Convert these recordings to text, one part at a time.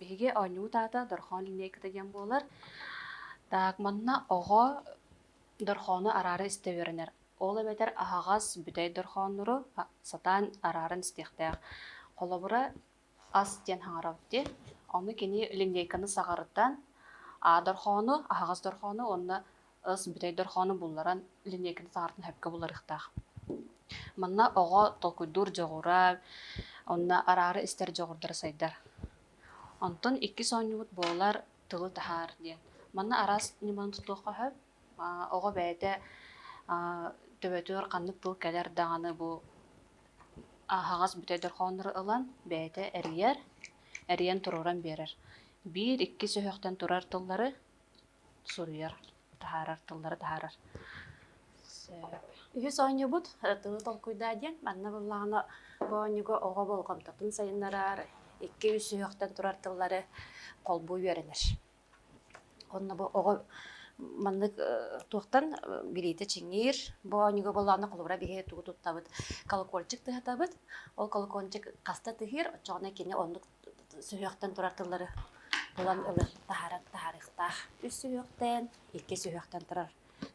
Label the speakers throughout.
Speaker 1: Биһиги оонньуубут аата Дорҕоон линейката диэн буолар. Так, манна оҕо дорҕоону араара истэ үөрэнэр. Ол эбэтэр аһаҕас бүтэй дорҕооннору а- сатаан арааран истиэхтээх. Холобура, ас диэн хаҥарабыт дии. Ону кини линейканы саҕарытан, а дорҕоону, аһаҕас дорҕоону уонна бүтэй дорхоону булларан линейканы саҥартан сөпкө буларыахтаах. Манна оҕо толкуйдуур дьоҕура, онно араара истэр дьоҕурдара сайдар. Онтон иккис оонньуубут буолар тылы таһаар диэн. Манна араас ньыманы тутуохха сөп. оҕо бэйэтэ төбөтүгэр ханнык тыл кэлэр даҕаны бу аһаҕас бүтэй дорхооннору ылан бэйэтэ эрийэр, эрийэн туруоран биэрэр. Биир, иккис өһөхтөн турар тыллары суруйар, таһаарар, тыллары таһаарар. Үһүс оонньуубут тылы толкуйдаа диэн манна буллаҕына бу оонньууга оҕо болҕомтотун сайыннарар, икки үс сүһүөхтэн турар тыллары холбуу үөрэнэр. Онно бу оҕо маннык туохтан билиитэ чиҥиир. Бу оонньууга боллоҕуна холобура биһи тугу туттабыт? Колокольчик тыһатабыт. Ол колокольчик хаста тыһыыр, оччоҕуна кини оннук сүһүөхтэн турар тыллары булан ылы таһаарар таһаарыахтаах. Үс сүһүөхтээн, икки сүһүөхтэн турар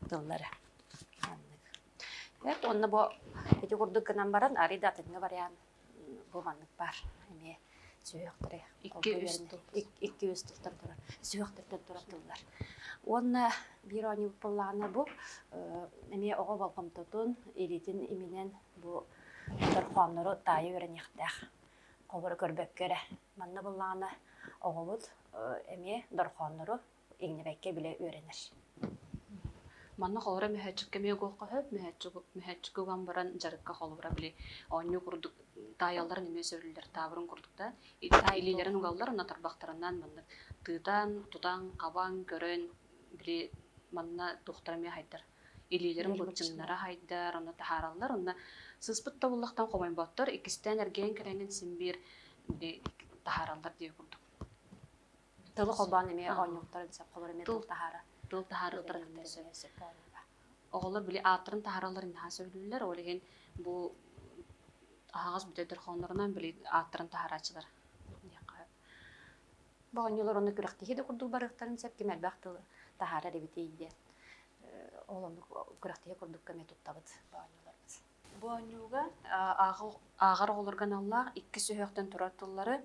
Speaker 1: тыллары маннык. Бэрт онно бу ити курдук гынан баран арыый да атыҥҥы вариант бу маннык баар эмиэ сүһүөхтэри Икки үс тыл. Икки үс тылтан турар сүһүөхтэртэн турар тыллар. Уонна биир оонньуубут буоллаҕына бу эмиэ оҕо болҕомтотун, илиитин иминэн бу дорҕооннору таайа үөрэниэхтээх. Обура көрбөккө эрэ. Манна буллаҕына оҕобут эмиэ дорхооннору иҥнибэккэ билэ үөрэнэр. Манна холура мөһөөччүккэ эмиэ оголхоһоп, мөһөөччүккэ уган баран дьарыкка холура били оонньуу курдук таайалларын эмиэ сөбүлүүллэр таабырын курдук да таай илиилэрин угаллар уонна тарбахтарынан маннык тыытан тутан хабан көрөн били манна туохтара эмиэ хайдар илиилэрин былчыҥнара хайдар, онно таһаараллар. Онно сыспыт тобуллахтан хомойботтор, иккистээн эргийэн кэлэҥҥин син биир таһаараллар диир курдук. Тылы холбоон эмиэ оонньууктар соло эмиэ тыл таһаара. Тыл таһаарыылара кытта сөп. Оҕолор били ааттарын таһаараллар наһаа сөбүлүүллэр. Ол иһин бу аһаҕас бүтэ дорҕооннорунан били ааттарын таһаарааччылар диэххэ Боҕонньолор онно күрэхтиһии да курдук барыахтарын сөп, ким элбэх тылы таһаарар эбитий диэн. Ол оннук күрэхтиһии курдук көмө туттабыт боонньолорбут. Боонньууга ааҕар оҕолорго аналлаах иккис өһөхтөн турар тыллары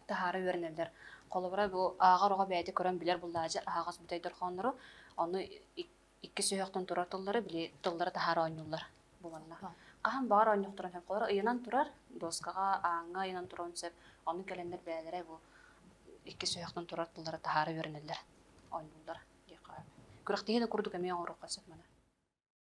Speaker 1: таһаара үөрэнэллэр. Холобура, бу ааҕар оҕо бэйэтэ көрөн билэр буллааччы аһаҕас бүтэй дорҕооннору, ону иккис сүһүөхтэн турар тыллары били тыллары таһаара оонньууллар буоланна. Хаһан баҕар оонньохторун сөп холоро ыйанан турар, дуоскаҕа, ааҥҥа ыйанан туруон сөп. Ону кэлэннэр бэйэлэрэ бу иккис сүһүөхтэн турар тыллары таһаара үөрэнэллэр, оонньууллар диэххэ. Күрэхтэһии да курдук эмиэ оҥоруохха сөп манна.